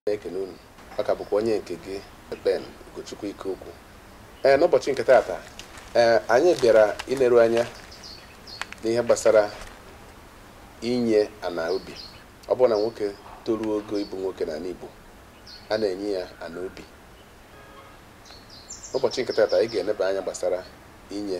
na-ekene unu ọ ka bụkwa onye nke gị Ben Ugochukwu Ikeokwu ee n'ụbọchị nke taata ee anyị bịara ileru anya n'ihe gbasara inye ana obi ọ bụrụ na nwoke toruo ogo ịbụ nwoke n'ala Igbo a na-enye ya ana obi n'ụbọchị nke taata anyị ga-eneba anya gbasara inye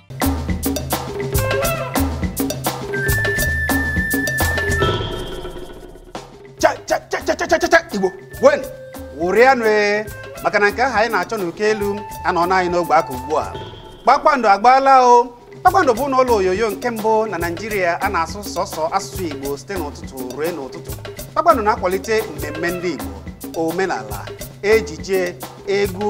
igbo ṅụrịanụ ee maka na nke ahụ anyị na-achọ n'oke elu anọọna anyị n'ogbe aka ugbu a kpakpando agbaala o kpakpando bụ ụlọ onyonyo nke mbụ na naijiria a na-asụ sọsọ asụsụ igbo site n'ụtụtụ ruo n'ụtụtụ kpakpando na-akwalite mmemme ndị igbo omenala ejije egwu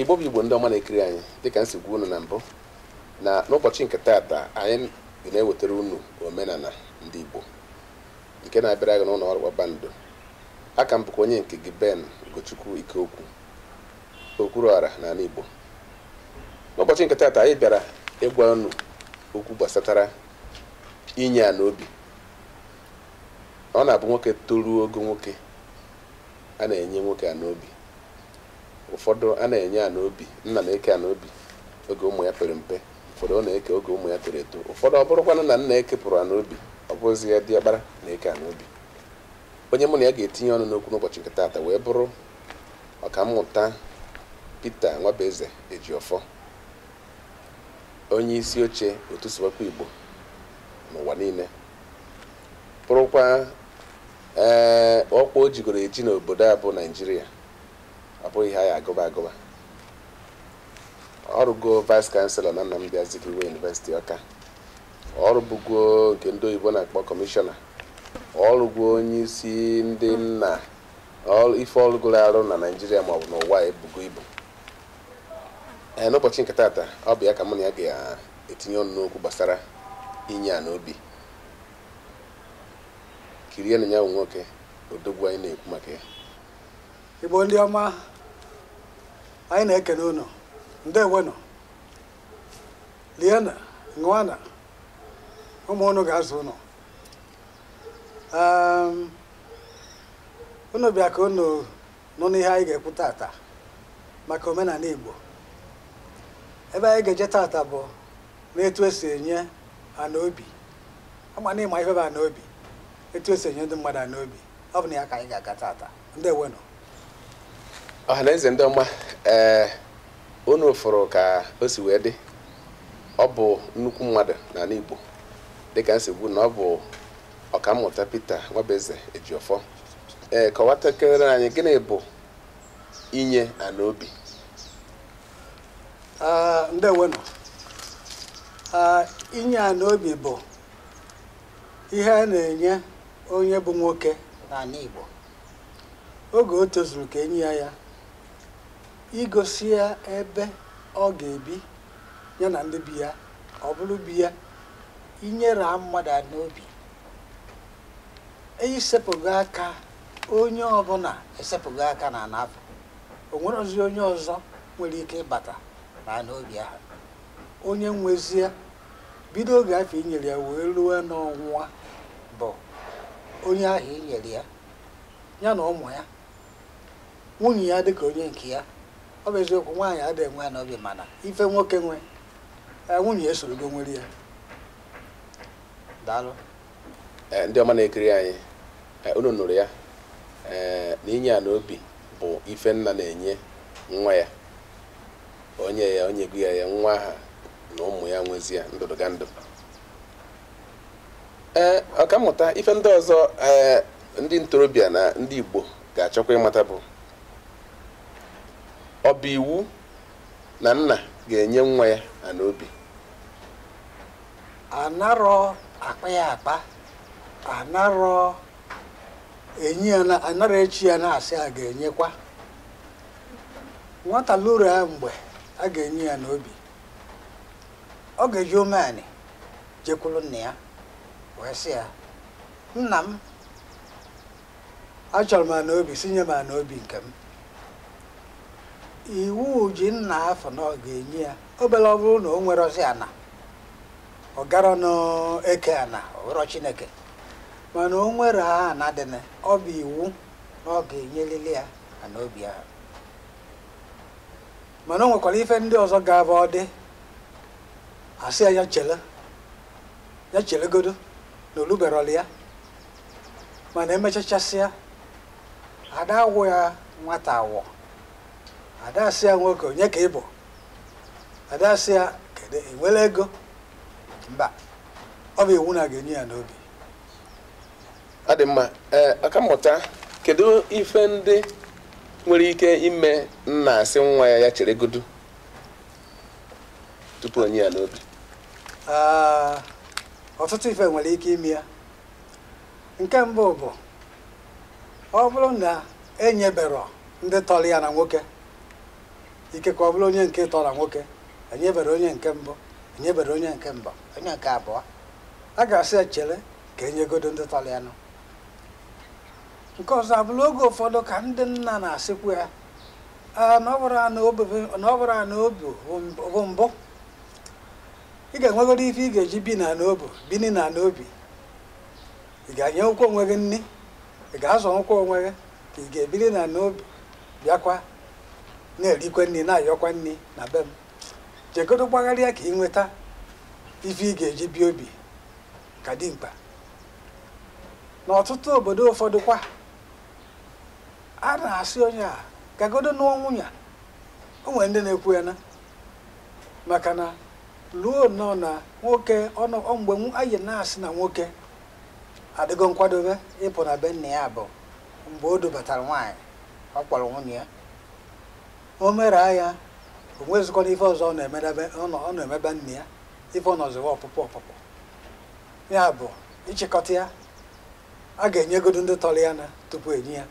igbo bụ igbo ndị ọma na-ekiri anyị dịka m si gwa unu na mbụ na n'ụbọchị nke taata anyị na-ewetara unu omenala ndị igbo nke na-abịara gị n'ụlọ ọrụ kpakpando A ka m bụkwa onye nke gị Ben Ugochukwu Ikeokwu, Okwuruọra n'ala Igbo. N'ụbọchị nke taata anyị bịara ịgwa unu okwu gbasatara inye ana obi. Ọ na-abụ nwoke toruo ogo nwoke, a na-enye nwoke ana obi. Ụfọdụ a na-enye ana obi, nna na-eke ana obi oge ụmụ ya pere mpe, ụfọdụ ọ na-eke oge ụmụ ya toro eto, ụfọdụ ọ bụrụkwanụ na nna ekepụrọ ana obi, ọ bụzia diọkpara na-eke ana obi. onye mụ na ya ga-etinye ọnụ n'okwu n'ụbọchị nke taata wee bụrụ ọkammụta Pita Nwabueze Ejiofor onye isi oche otu Sụwakwa Igbo n'ụwa niile bụrụkwa ee ọkwa o jigoro eji n'obodo a bụ Naijiria ọ bụghị ihe a ya-agụba agụba ọ rụgo vice chancellor na Nnamdi Azikiwe University Ọka ọ rụbugo nke ndị oyibo na-akpọ kọmishọna ọ rụgo onye isi ndị nna ife ọ rụgoro arụ na naijiria maọbụ n'ụwa ebugo ibu ee n'ụbọchị nke taata ọ bụ ya ka mụ na ya ga-etinye ọnụ n'okwu gbasara inye ana obi kirienụ ya bụ nwoke odogwu anyị na-ekwu maka ya igbo ndị ọma anyị na-ekene unu ndewonụ liena ṅụana ụmụ unu ga-azụ unu Em, unu bịa ka unu nụrụ ihe anyị ga-ekwu tata maka omenanị Igbo ebe anyị ga-eje tata bụ n'etu esi enye ana obi ama na ị ma ife bụ ana obi etu esi enye ndị mmadụ ana obi ọ bụ na ya ka anyị ga-aga tata ndewenụ ọha na eze ndị ọma ee unu fụrụ ka o si wee dị ọ bụ nnukwu mmadụ n'anị Igbo dịka m si gwa unu na ọ bụ ọkammụta Peter Nwabeze Ejiofor ee kọwatakịrị anyị gịnị bụ inye ana obi ndewenụ inye ana obi bụ ihe a na-enye onye bụ nwoke n'anị Igbo oge o tozuru ka e nye ya ya egosi ya ebe ọ ga-ebi ya na ndị be ya ọ bụrụ be ya e nyere mmadụ ana obi e sepụgo aka onye ọbụna esepụgo aka n'ana ahụ o nwerozi onye ọzọ nwere ike ịbata n'ana obi ahụ onye nwezi ya bido oge afụ e nyere ya wee ruo n'ọnwụ ya bụ onye ahụ e nyere ya ya na ụmụ ya nwunye ya dịka onye nke ya ọ bụ eziokwu nwaanyị adịghị enwe ana obi mana ife nwoke nwe eh, nwunye ya esorogo nwere ya daalụ Eh, ndị ọma na-ekiri anyị eh, unu nụrụ ya eh, na inye ana obi bụ ife nna na-enye nwa ya o nye ya o nyego ya ya nwa ahụ na ụmụ ya nwezi ya ndụdụgandụ ee ọkammụta ife ndị ọzọ ee ndị ntorobịa na ndị Igbo ga-achọkwa ịmata bụ ọ bụ iwu na nna ga-enye nwa ya ana obi anarọ akpa ya akpa anarọ enye ya na anarọ eche ya na-asị a ga-enyekwa nwata luru ya mgbe a ga-enye ya ana obi ọ ga-eji umeanị jekwuru nna ya wee sị ya nna m achọrọ m ana obi sị nye m ana obi nke m iwu ji nna afụ na ọ ga-enye ya belụ ọ bụrụ na o nwerozi ana ọ garọnụ eke ana ọ bụrọ Chineke mana o nwere ana dị na ọ bụ iwu na ọ ga-enyelili ya ana obi ahụ mana o nwekwara ife ndị ọzọ ga-abụ ọ dị a sị ya ya chele ya chelegodo na o luberọlụ ya mana emechachasịa a da-awọ ya nwata awọ a da-asị ya nwoke onye ka ị bụ a da-asị ya kedu ị nwere ego mba ọ bụ iwu na a ga-enye ya ana obi ọ dị mma ee ọkammụta kedu ife ndị nwere ike ime nna asị nwa ya ya cheregodu tupu o nye ya ana obi ah, ọtụtụ ife nwere ike ime ya nke mbụ bụ ọ bụrụ na enyebero ndị tọrọ ya na nwoke ikekwe ọ bụrụ onye nke ịtọ na nwoke enyebero onye nke mbụ enyebero onye nke mbụ onye nke abụọ a ga-asị ya chere ka enyegodo ndị tọrọ ya nụ nke ọzọ abụrụ oge ụfọdụ ka ndị nna na-asịkwu ya "Ah, na ọ bụrọ ana obi na ọ bụrọ ana obi bụ mbụ ị ga-enwegodo ife ị ga-eji bi na ana obi bini na ana obi ị ga-enyenwukwu onwe gị nri ị ga-azọnwukwu onwe gị ka ị ga-ebiri na ana obi bịakwa na-erikwa nri na-ayọkwa nri na be m jegodo gbagharịa ka ị nweta ife ị ga-eji bie obi ka dimkpa n'ọtụtụ obodo ụfọdụkwa a na-asị onye a gagodo nụọ nwunye a. o nwere ndị na-ekwu ya na maka na ruo nnọọ na nwoke ọnụ ọ mgbe nw- anyị na-asị na nwoke adịgo nkwadobe ịpụ na be nna ya bụ mgbe o dubatara nwaanyị ọ kpọrọ nwunye ya o mere nya o nwezikwana ife ọzọ ọ na-emedebe ọ nọ- ọ na-eme be nna ya ife ọ nọziwa ọpụpụ ọpụpụ ya bụ ịchịkọta ya a ga-enyegodu ndị tọrọ ya na tupu enye ya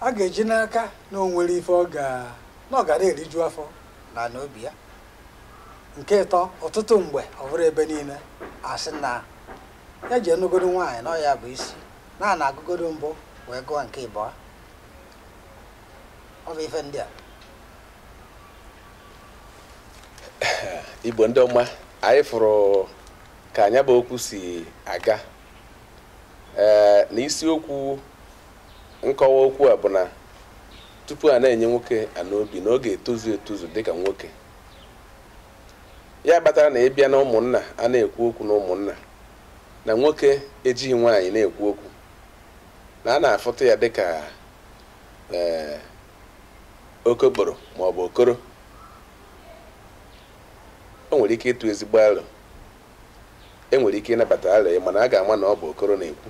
a ga-eji n'aka na o nwere ife ọ ga na ọ ga na-eriju afọ na ana obi ya nke ịtọ ọtụtụ mgbe ọ bụrọ ebe niile a sị na ya je nụgodo nwaanyị na ọ ya bụ isi na a na-agụgodo mbụ wee gụọ nke ịbụọ ọ bụ ife ndị a igbo ndị ọma anyị fụrụ ka nya bụ okwu si aga ee na isiokwu nkọwa okwu a bụ na tupu a na-enye nwoke ana obi na ọ ga-etozu etozu dịka nwoke ya kpatara na ị bịa na ụmụnna a na-ekwu okwu na ụmụnna na nwoke ejighị nwaanyị na-ekwu okwu na a na-afụta ya dịka ee eh, okokporo ma ọ bụ okoro o nwere ike ịtụ ezigbo alo enwere ike ịnabata alo ya mana a ga-ama na ọ bụ okoro na-ekwu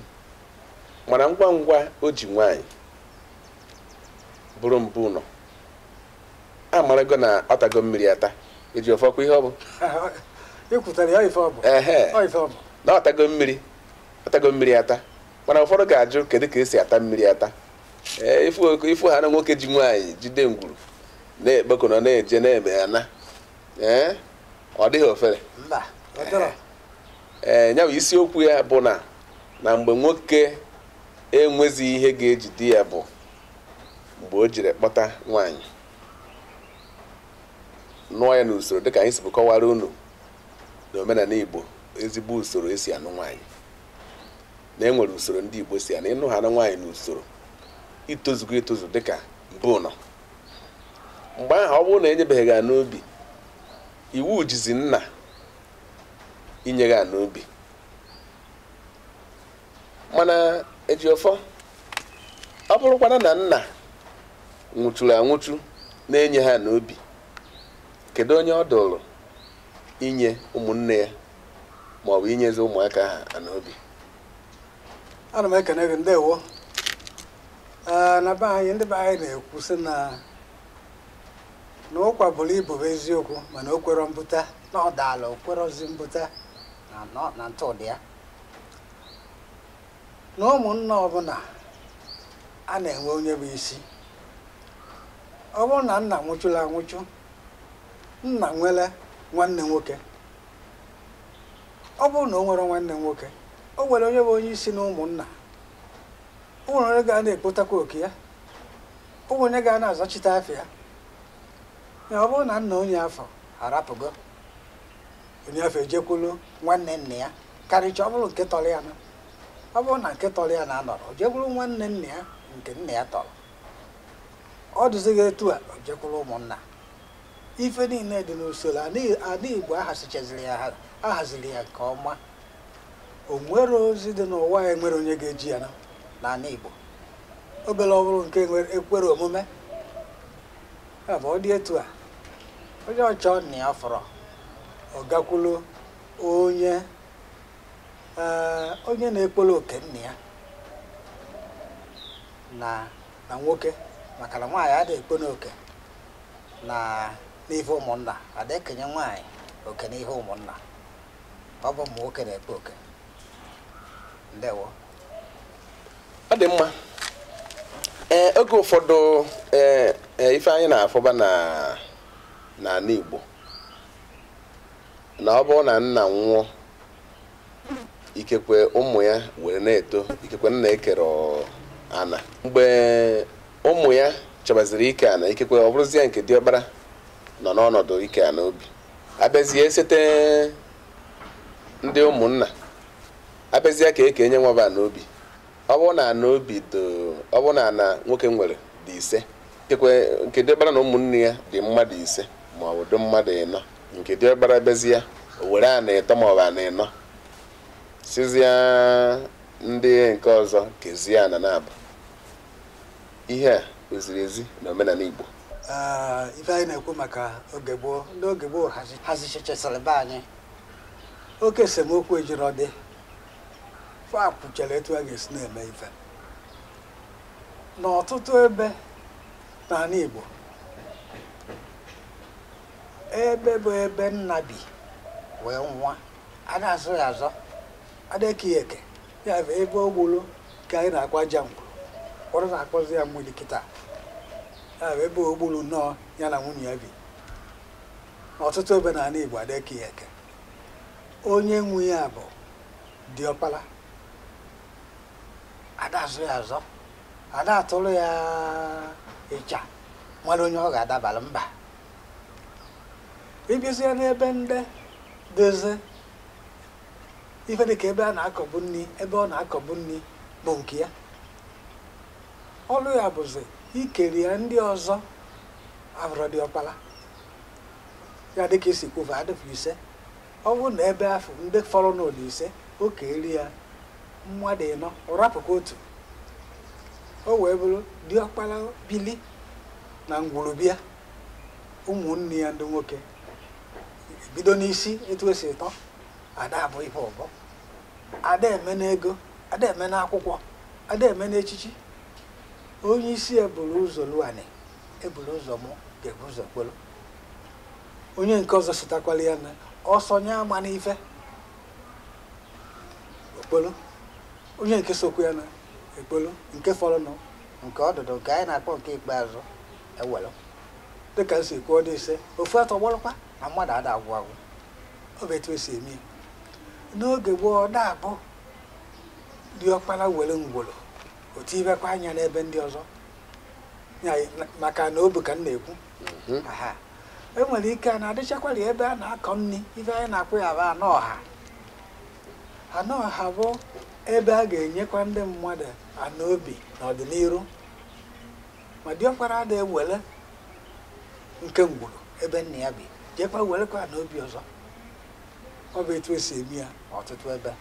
mana ngwa ngwa o ji nwaanyị bụrụ mbụ ụnọ amarago na ọ tago mmiri ata ejiọfọ kwa ihe ọ bụ na ọ tago mmiri atago mmiri ata mana ụfọdụ ga-ajụ kedu ka esi ata mmiri ata ee ị fụ ha na nwoke ji nwaanyị jide ngwuru na-ekpekọ nọ na-eje na-eme ana ee ọ dịghị ofere ee ya bụ isiokwu ya bụ na na mgbe nwoke enwezi ihe ga-ejide ya bụ mgbe o jiri kpọta nwaanyị nụọ ya n'usoro dịka anyị sibu kọwara unu na omenala Igbo ezigbo usoro esi anụ nwaanyị na enwere usoro ndị Igbo si anụ ị nụ ha na nwaanyị na usoro i tozugo etozu dịka mbụ ụnọ mgbe ahụ ọ bụrụ na enyebeghị gị ana obi iwu jizi nna inye gị ana obi mana ejiọfọ ọ bụrụkwana na nna nwụchuru anwụchu na-enye ha ana obi kedu onye ọ dụrụ inye ụmụnne ya ma ọ bụ inyezi ụmụaka ha ana obi ana m ekene gị ndewo ee na be anyị ndị be anyị na-ekwu sị na na ụkwa buru ibu bụ eziokwu mana o kwerọ mbuta na ọ daala o kwerọzi mbuta na nọ- na ntụdị ya na ụmụnna ọbụla a na-enwe onye bụ isi ọ bụrụ na nna nwụchuru anwụchu nna nwere nwanne nwoke ọ bụrụ na o nwere nwanne nwoke o nwere onye bụ onye isi na ụmụnna o nwere onye ga na-ekpotakwa oke ya o nwere onye ga na-azachite afọ ya ya ọ bụrụ na nna onye afụ arapụgo onye afụ ejekwulu nwanne nna ya karịcha ọ bụrụ nke tọrọ ya na ọ bụrụ na nke tọrọ ya na anọrọ o jekwuru nwanne nna ya nke nna ya tọrọ ọ dụzighị etu a o jekwuru ụmụnna ife niile dị n'usoro na ana igbo ahasichaziri ya ha- ahaziri ya nke ọma o nwerọ ozi dị n'ụwa a enwerọ onye ga-eje ya na n'ana igbo beere ọ bụrụ nke nwere- ekwerọ omume ya bụ ọ dị etu a onye chọọ nna ya ọ fụrọ ọ gakwulu onye onye na-ekporo oke nna ya na na nwoke maka na nwaanyị adịghị ekpo n'oke na n'ife ụmụnna ada ekenye nwaanyị oke n'ihe ụmụnna ọ bụ ụmụ nwoke na-ekpo oke ndewo ọ dị mma ee oge ụfọdụ ee ee, ife anyị na-afụba na n'ana Igbo na ọ bụrụ na nna nwụọ ikekwe ụmụ ya were na-eto ikekwe nna ekerọ ana mgbe ụmụ ya chọbaziri ike ana ikekwe ọ bụrụzie nke diọkpara nọ n'ọnọdụ ike ana obi abịazie sete ndị ụmụnna abịazie ka ekenye nwaba na obi ọ bụrụ na ana obi ọ bụrụ na ana nwoke nwere dị ise ikekwe nke diọkpara na ụmụnne ya dị mmadụ ise ma ọ bụ dị mmadụ ịnọ nke diọkpara bịazie o were ana ịtọ ma ọ bụ ana ịnọ sịzie ndị nke ọzọ kezie ana naabọ ihe a o ziri ezi na omenana Igbo ife anyị na-ekwu maka oge gboo ndị oge gboo hazichechasịrị be anyị oke esemokwu ejirọ dị fa kwuchara etu a ga-esi na-eme ife n'ọtụtụ ebe n'anị Igbo ebe bụ ebe nna bi wee nwụọ ada azọ ya azọ ada eke ya eke ya bụ ebe o gbulu ka anyị na-akpọ aja ngwuru ụfọdụ na-akpọzi ya mmiri kịta ya bụ ebe o gbulu nnọọ ya na nwunye ya bi n'ọtụtụ ebe n'anị Igbo ada eke ya eke onye nwe ya bụ diọkpala ada azọ ya azọ ada atụlụ ya ịcha malụ onye ọ ga-adabara mba ị bịazie n'ebe ndị dozie ife dị ka ebe a na-akọbu nri ebe ọ na-akọbu nri bụ nke ya ọlụ ya bụzi ikeri ya ndị ọzọ abụrọ diọkpala ya dịka i si kwu va adịfụ ise ọ bụrụ na ebe afụ ndị fọrọ n'ụlọ ise o keri ya mmadụ ịnọ ọ rapụkwa otu o wee bụrụ diọkpara bili na ngwuru bịa ụmụnne ya ndị nwoke bido n'isi etu esi tọọ ada abụ ife ọbọ ada eme n'ego ada eme n'akwụkwọ ada eme n'echichi onye isi ya buru ụzọ luo anị eburu ụzọ mụọ ga-ebu ụzọ kpolu onye nke ọzọ sitakwala ya na ọsọ nye ama n'ife o kpolu onye nke sokwu ya na ekpolu nke fọrọnụ nke ọdụdụ nke anyị na-akpọ nke ikpeazụ ewelu dịka m si kwuo dị ise ofu atọgbọrọkwa na mmadụ ada agwụ agwụ ọ bụ etu esi eme ya. n'oge gboo ọ da-abụ diọkpara were ngwuru o tibekwa anya n'ebe ndị ọzọ maka ana obi ka m na-ekwu mhm. e nwere ike ana adịchakwara ebe a na-akọ nri ife anyị na-akpọ ya bụ ana ọha ana ọha bụ ebe a ga-enyekwa ndị mmadụ ana obi n'ọdịnihu ma diọkpara ada ewere nke ngwuru ebe nna ya bi jekwa werekwa ana obi ọzọ ọ bụ etu esi eme ya ọtụtụ ebe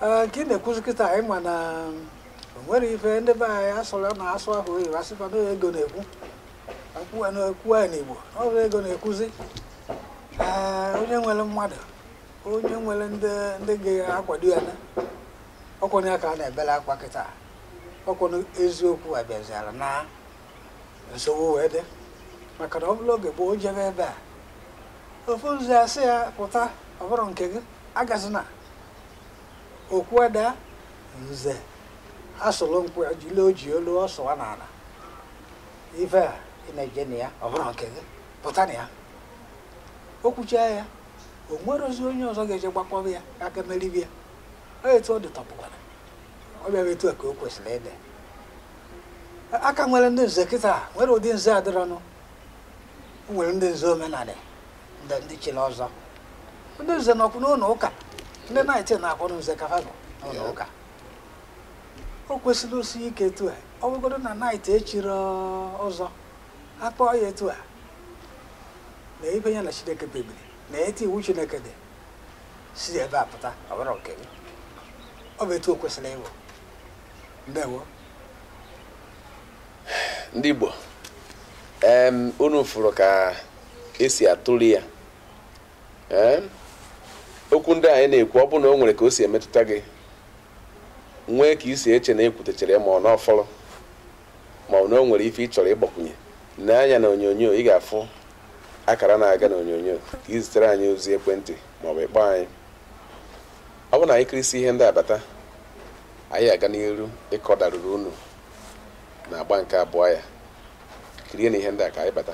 Ee, nke ị na-ekwuzi kịta anyị ma na o nwere ife ndị be anyị asụrụ n'asụsụ oyibo asịkwa na ego na-ekwu akwụwa na ekwu anyị n'igbo ọ bụ ego na-ekwuzi ee onye nwere mmadụ onye nwere ndị ndị ga-akwado ya na ọ kwa onye ka a na-ebere akwa kịta ọ kwa onye eziokwu abịaziara na nsogbu wee dị maka na ọ bụrụ oge gboo jebe ebe a ofu nze asị ya pụta ọ bụrọ nke gị agazina okwu ada nze asụlụ nkwụ jile oji olu ọ sụwa n'ana ife a ị na-eje na ya ọ bụrọ nke gị pụta na ya o kwuchaa ya o nwerọzi onye ọzọ ga-eje gbakpọba ya aka meribi ya ọ etu ọ dị tọpụkwara ọ bụ etu a ka o kwesịrị ịdị a ka nwere ndị nze kịta nwere ụdị nze adịrọnụ o nwere ndị nze omenala ndị chiri ọzọ ndị nze nọkwu n'ụlọ ụka ndị naịtị na-akpọrọ nze ka ha nọ n'ụlọ ụka o kwesịrị isi ike etu a ọ bụgodu na naịtị echiri ọzọ akpọọ ya etu a na ife ya na chineke kpebiri na etu iwu chineke dị si ebe a pụta ọ bụrọ nke gị ọ bụ etu o kwesịrị ịbụ ndewo ndị Igbo unu fụrụ ka esi atụle ya okwu ndị anyị na-ekwu ọ bụrụ na o nwere ka o si emetụta gị nwee ka isi eche na ekwutecharọ ma ọ na ọ fọrọ ma ọ na o nwere ife ị chọrọ ịgbakwunye nee anya na onyonyo ị ga-afụ akara na-aga na onyonyo ka ị zitere anyị ozi ekwentị maọbụ ị kpọọ anyị ọ bụrụ na anyị kirisie ihe ndị a bata anyị aga n'iru ịkọdaruru unu na agba nke abụọ ya kirienụ ihe ndị a ka anyị bata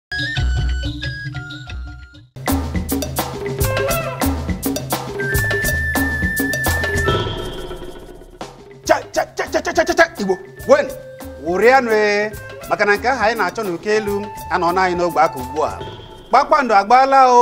igbo nwe m ṅụrịanụ ee maka na nke ahụ anyị na-achọ n'uko elu anọọna anyị n'ogbe aka ugbu a kpakpando agbaala o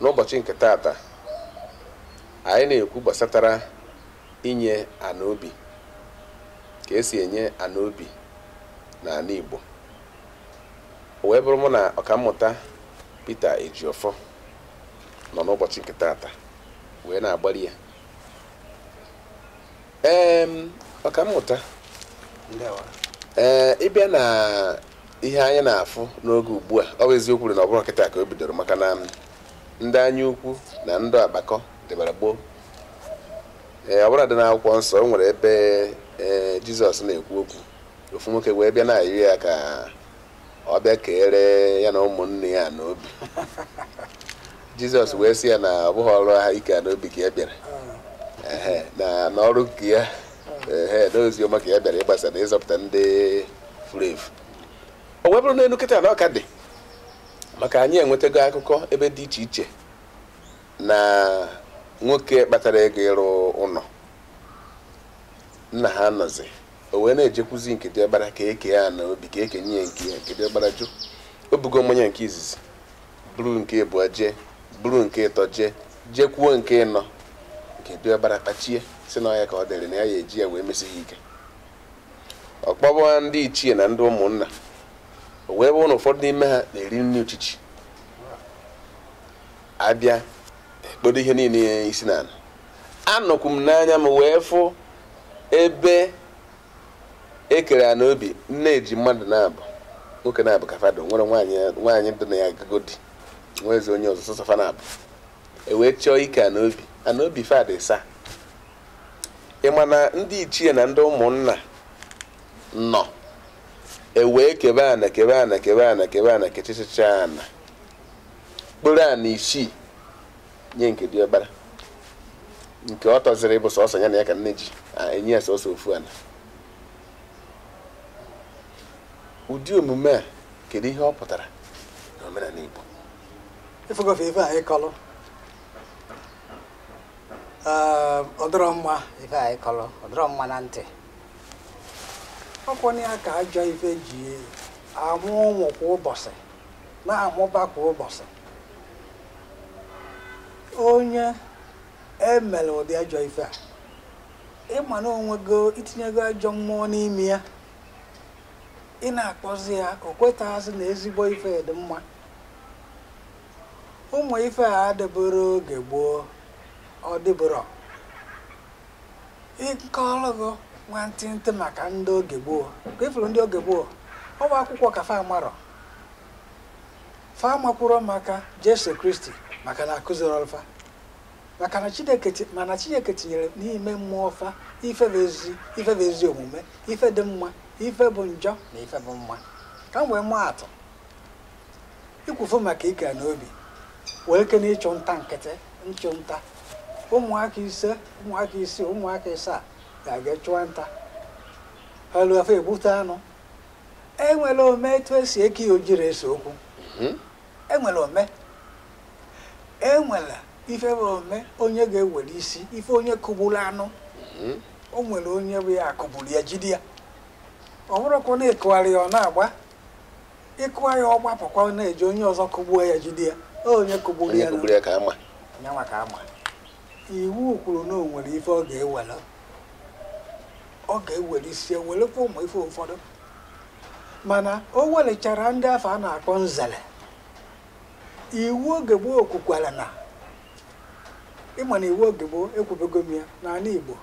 n'ụbọchị nke taata anyị na-ekwu gbasatara inye ana obi ka esi enye ana obi n'ana Igbo o wee bụrụ mụ na ọkammụta Peter Ejiofor nọ n'ụbọchị nke taata wee na-agbarị ya ee ọkammụta ee ịbịa na ihe anyị na-afụ n'oge ugbu a ọ bụ eziokwu na ọ bụrọ kịta ka o bidoro maka na ndị anya ukwu na ndị agbakọ dịbara gboo ee ọbụladị n'akwụkwọ nsọ o nwere ebe ee jizọs na-ekwu okwu ofu nwoke wee bịa na-ayọ ya ka ọ bịa keere ya na ụmụnne ya ana obi jizọs wee sị ya na ọ bụghị ọrụ ahụ ike ana obi ka ya bịara na n'ọrụ nke ya ee na ozi ọma ka ya bịara ịgbasa na ịzọpụta ndị furu efu o wee bụrụ n'enu kịta na ọ ka dị maka anyị enwetago akụkọ ebe dị iche iche na nwoke kpatara ego ịrụ ụlọ nna ha anọzi o wee na-ejekwuzi nke diọkpara ka eke ana obi ka ekenye ya nke ya nke diọkpara jụ o bugo mmanya nke izizi buru nke ịbụọ jee buru nke ịtọ jee jekwuo nke ịnọ nke diọkpara kpachie sị na ọ ya ka ọ dịrị na ya ya eji ya wee mesi ha ike ọ kpọwa ndị ichie na ndị ụmụnna o wee bụrụ na ụfọdụ n'ime ha na-eri nri uchichi abịa ekpodo ihe niile isi n'ana anọkwu m n'anya m wee fụ ebe ekere ana obi nne ji mmadụ naabọ nwoke naabọ ka fa dị o nwerọ nwaanyị dị na ya agagodị nwezi onye ọzọ sọsọ fa naabọ ewee chọọ ike ana obi ana obi fa dị ịsaa ịma na ndị ichie na ndị ụmụnna nọ ewee kebe ana kebe ana kebe ana kebe ana kechichicha ana kporo ana isii nye nke diọkpara nke ọ tọziri ịbụ sọsọ ya na ya ka nne ji enye ya sọsọ ofu ana ụdị omume a kedu ihe ọ pụtara n'omenala Igbo ị fụgo ife a ị kọlụ ehm, ọ dịrọ mma ife a ị kọlụ ọ dịrọ mma na ntị ọ kwa nya ka ajọ ife ji amụ ụmụ kwa ụbọchị na-amụba kwa ụbọchị onye emere ụdị ajọ ife a ịma na onwego itinyego ajọ mmụọ n'ime ya ị na-akpọzi ya o kwetaghazị na ezigbo ife dị mma ụmụ ife a adịburọ oge gboo ọ dịburọ ị kọlụgo nwantịntị maka ndị oge gboo ka ifuru ndị oge gboo ọ bụ akwụkwọ ka fa amarọ fa amakwurọ maka jesu kristi maka na akụzirọlụ fa maka na chineke ti- mana chineke tinyere n'ime mmụọ fa ife bụ ezi ife bụ ezi omume ife dị mma ife bụ njọ na ife bụ mma ka m wee maa atụ ikwufu maka ike n'obi wee ike na ịchụ nta nkịtị nchụ nta ụmụaka ise ụmụaka isii ụmụaka ịsaa ga-aga chụọ nta ha ruo afọ egbute anụ enwere ome etu esi eke ya ojiri ese okwu mhm. enwere ome enwere ife bụ ome onye ga-ewere isi ife onye kụgburu anụ mhm. o nwere onye bụ ya akụgburu ya jide ya ọ bụrụkwa na ịkụgharị ya ọ na-agba ịkụwa ya ọ gbapụkwa na-eje onye ọzọ kụgbuo ya jide ya onye kụgburu ya nya nwa ka a ma iwu kwuru na o nwere ife ọ ga-ewere ọ ga-ewere isi werekwa ụmụ ife ụfọdụ mana o welechara ndị afụ a na-akpọ nzere iwu oge gboo kwukwara na ịma na iwu oge gboo ekwubego m ya n'ala Igbo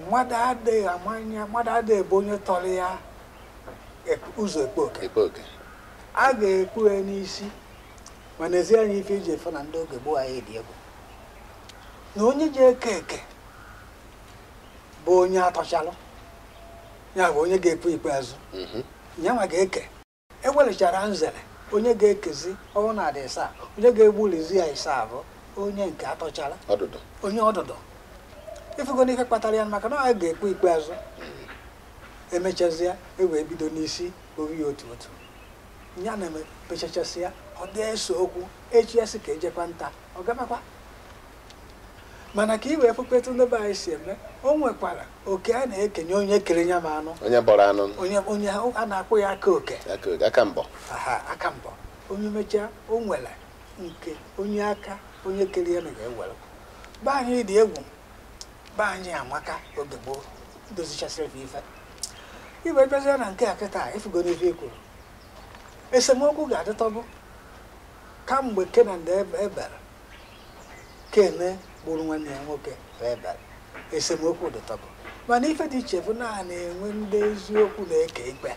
mmadụ adịghị amanya mmadụ adịghị ebu onye tọrọ ya ụzọ ekpu oke a ga-ekpu ya n'isi ma nezie anya ife i ji afụ na ndị oge gboo anyị dị egwu na onye ji eke eke bụ onye a tọchalụ ya bụ onye ga-ekpu ikpeazụ mhm. ya nwa ga-eke ewelechara nzere onye ga-ekezi ọ bụ na a dị ịsaa onye ga-egbulizi ya ịsaa bụ onye nke a tọchara onye ọdụdụ ịfụgo n'ife kpatara ya maka na ọ ga-ekpu ikpeazụ mhm. emechazịa e wee bido n'isi obi ya otu otu ya na-emepechachasị ya ọ dịghị ese okwu echi ya a sị ka e jekwa nta ọ gabakwa mana ka i wee fụkwa etu ndị be anyị si eme o nwekwara oke a na-ekenye onye kere nya ma anụ onye bọrọ anụ onye onye a na-akpọ ya aka oke aka mbọ aka mbọ onye mechaa o nwere nke onye aka onye kere ya na ga-ewere be anyị dị egwu be anyị amaka oge gboo dozichasịrị ife e wee bịazie na nke a kịta ifugo n'ife i kwuru esemokwu ga-adịtọbụ kamgbe Ken na Ebel ken gburu nwanne ya nwoke ebel esemokwu dịtọbụ mana ife dị iche bụ na a na-enwe ndị eziokwu na-eke ikpe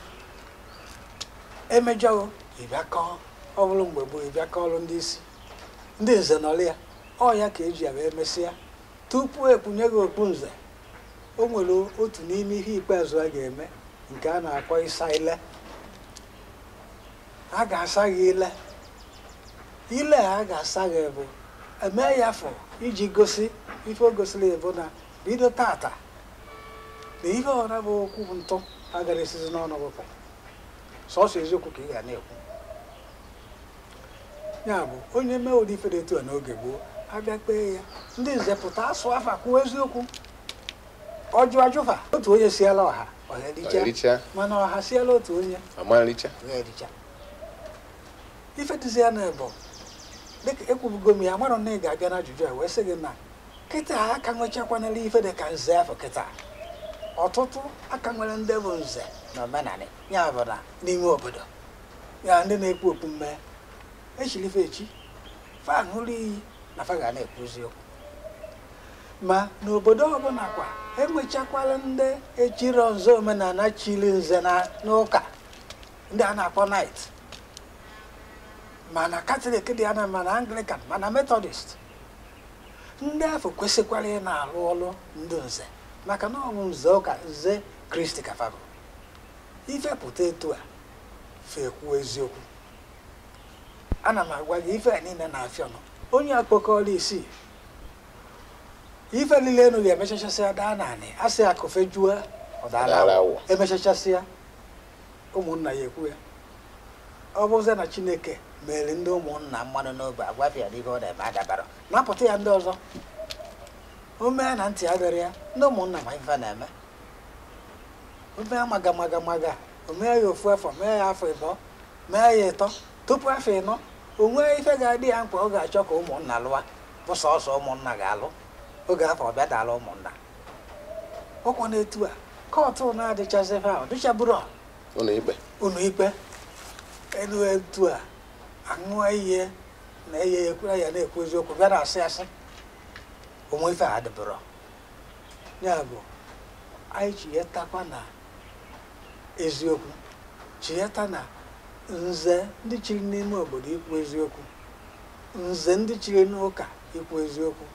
emejọọ gị ị bịa kọọ ọ bụrụ mgbe gboo ị bịa kọọrụ ndị isi ndị nze nọrọ ya ọ ya ka eji ya wee mesịa tupu ekpunye gị okpu nze o nwere otu n'ime ihe ikpeazụ a ga-eme nke a na-akpọ ịsa ile a ga-asa gị ile ile a ga-asa gị bụ eme ya afọ iji gosi ife o gosiri bụ na bido tata na ihe ọra bụ okwu bụ ntụ agara esizi n'ọnụ wepụ sọsọ eziokwu ka ị ga na-ekwu ya bụ onye mee ụdị ife dị etu a n'oge gboo abịa kpee ya ndị nze pụta asụ afa kwuo eziokwu ọ jụ ajụ fa otu onye siela ọha mana ọha siela otu onye ife dịzi ya na bụ dịka ekwubugo m ya mara na ị ga-abịa na ajụjụ a wee sị gị na kịta a ka nwechakwanala ife dị ka nze afọ kịta ọtụtụ a ka nwere ndị bụ nze n'omenala ya bụ na n'ime obodo ya ndị na-ekpu okpu mmee e chili fa echi fa ṅụrụ iyi na fa ga na-ekwu eziokwu ma n'obodo ọbụla kwa enwechakwala ndị echiro nze omenala chiri nze n'ụka ndị a na-akpọ knight ma na katọlik dị ana ma na anglikan ma na metọdist ndị afọ kwesịkwara ị na-arụ ọrụ ndị nze maka na ọ bụ nze ụka nze kristi ka fa bụ ife pụta etu a fa ekwuo eziokwu ana m agwa gị ife a niile na-afịa ọnụ onye akpọkọọla isi ife niile enu ga-emechachasịa daa n'anị a sị akụ fejuo ọ dala awọ emechachasịa ụmụnna ya ekwu ya ọ bụzie na chineke mere ndị ụmụnna mmadụ n'obe agwafịa na ife ọ na-eme adabara napụta ya ndị ọzọ o mee na ntị adịra ya ndị ụmụnna ma ife na-eme o mee maga maga maga o mee ya ofu afọ mee ya afọ ịbọ mee ya ịtọ tupu afọ ịnọ o nwee ife ga-adị ya mkpa ọ ga-achọ ka ụmụnna lụwa bụ sọsọ ụmụnna ga-alụ oge afọ ọ bịa dala ụmụnna ọkwa na etu a kọtụ na-adịchazi fa adịchaburọ ụlọ ikpe ụlọ ikpe elu etu a aṅụọ iyi na eye ya ekwere ya na-ekwu eziokwu bịa na-asị asị onwe ife a dịbụrụ ya bụ anyị chetakwa na eziokwu cheta na nze ndị chiri n'ime obodo ikwu eziokwu nze ndị chiri n'ụka ikwu eziokwu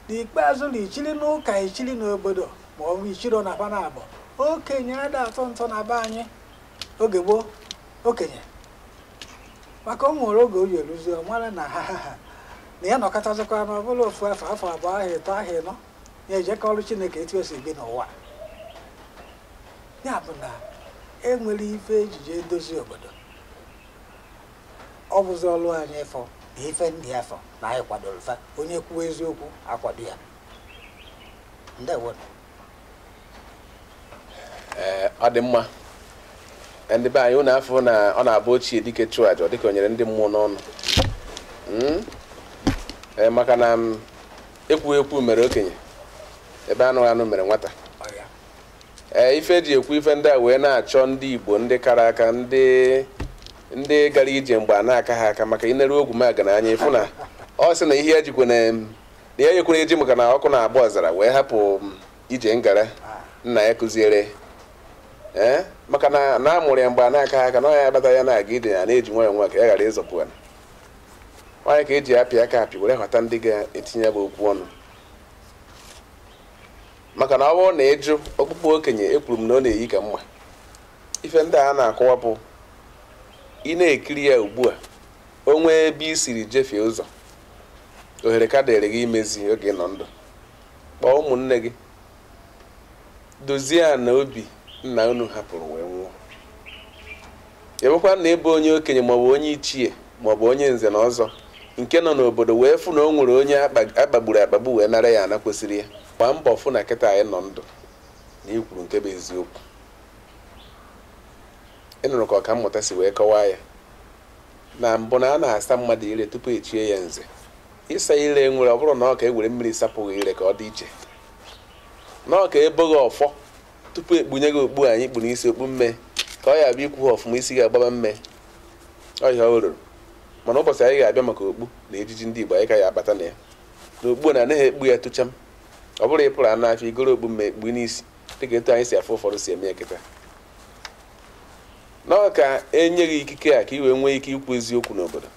n'ikpeazụ na ichiri n'ụka ichiri n'obodo ma ọ bụ ichiri na ha naabọ okenye ada atụ ntụ na be anyị oge gboo okenye maka ọ nwere oge ọ ya-eruzi ọ mara na ha ha ha na ya nọkatazikwa na ọ bụla ofu afọ afọ abụọ ahọ ịtọ ahọ ịnọ ya eje kọọrụ chineke etu o si bi n'ụwa ya bụ na enwere ife eji eje edozi obodo ọ bụzi ọrụ anyị ịfụ na ife ndị afụ na anyị kwadoro fa onye kwuo eziokwu akwado ya ndewo ee ọ dị mma ndị be anyị ụnụ afụ na ọ na-abụ ochie dike chụọ aja ọ dịka o nyere ndị mmụọ n'ọnụ Mm? Ee, maka na ekwughị ekwu mere okenye ebe anụghị anụ mere nwata ee ife eji ekwu ife ndị a wee na-achọ ndị igbo ndị kara aka ndị ndị gara ije mgbe ana akaha aka maka i neru ogwumagana anya ị fụ na ọ sị na ihe ejikwe na ihe nyekwere eji maka na ọkụ na-agba ọzara wee hapụ ije ngara nna ya kụziere ya maka na na amụrụ ya mgbe ana akaha aka na ọ ya abata ya na-aga ije ya na-eji nwayọ nwayọ ka ya ghara ịzọpu ya ọ nya ka eji apị aka apị were họta ndị ga-etinye ya bụ okwu ọnụ maka na ọ bụrụ na ịjụ okpukpu okenye ekpuru mmanwụ na-eyi ka mma ife ndị a na-akọwapụ ị na-ekiri ya ugbu a o nwee ebe i siri jefie ụzọ ohere ka dịrị gị imezi oge ị nọ ndụ kpọọ ụmụnne gị dozie ana obi nna unu hapụrụ wee nwụọ ebekwa na ị bụ onye okenye maọbụ onye ichie maọbụ onye nze na ọzọ nke nọ n'obodo wee fụ na o nwere onye akpagburu akpagbu wee nara ya ana kwesịrị ya gbaa mbọ fụ na kịta anyị nọ ndụ na i kwuru nke bụ eziokwu ị nụrụ ka ọkammụta si wee kọwaa ya na mbụ na a na-asa mmadụ ire tupu echie ya nze ịsa ire nwere ọ bụrọ na ọ ka e were mmiri sapụ gị ire ka ọ dị iche na ọ ka ebo gị ọfọ tupu ekpunye gị okpu anyị kpu n'isi okpu mme ka ọ ya abụ i kwuha ọfụma isi gị agbaba mme ọ ihe o ruru mana ụbọchị anyị ga-abịa maka okpu na ejiji ndị Igbo anyị ka ya abata na ya na okpu na anaghị ekpu ya tụcham ọ bụrụ ị pụrụ ọnụ afịa i goro okpu mme ekpu n'isi dịka etu anyị si afụ ụfọdụ si eme ya kịta na ọ ka enye gị ikike a ka i wee nwee ike ikwu eziokwu n'obodo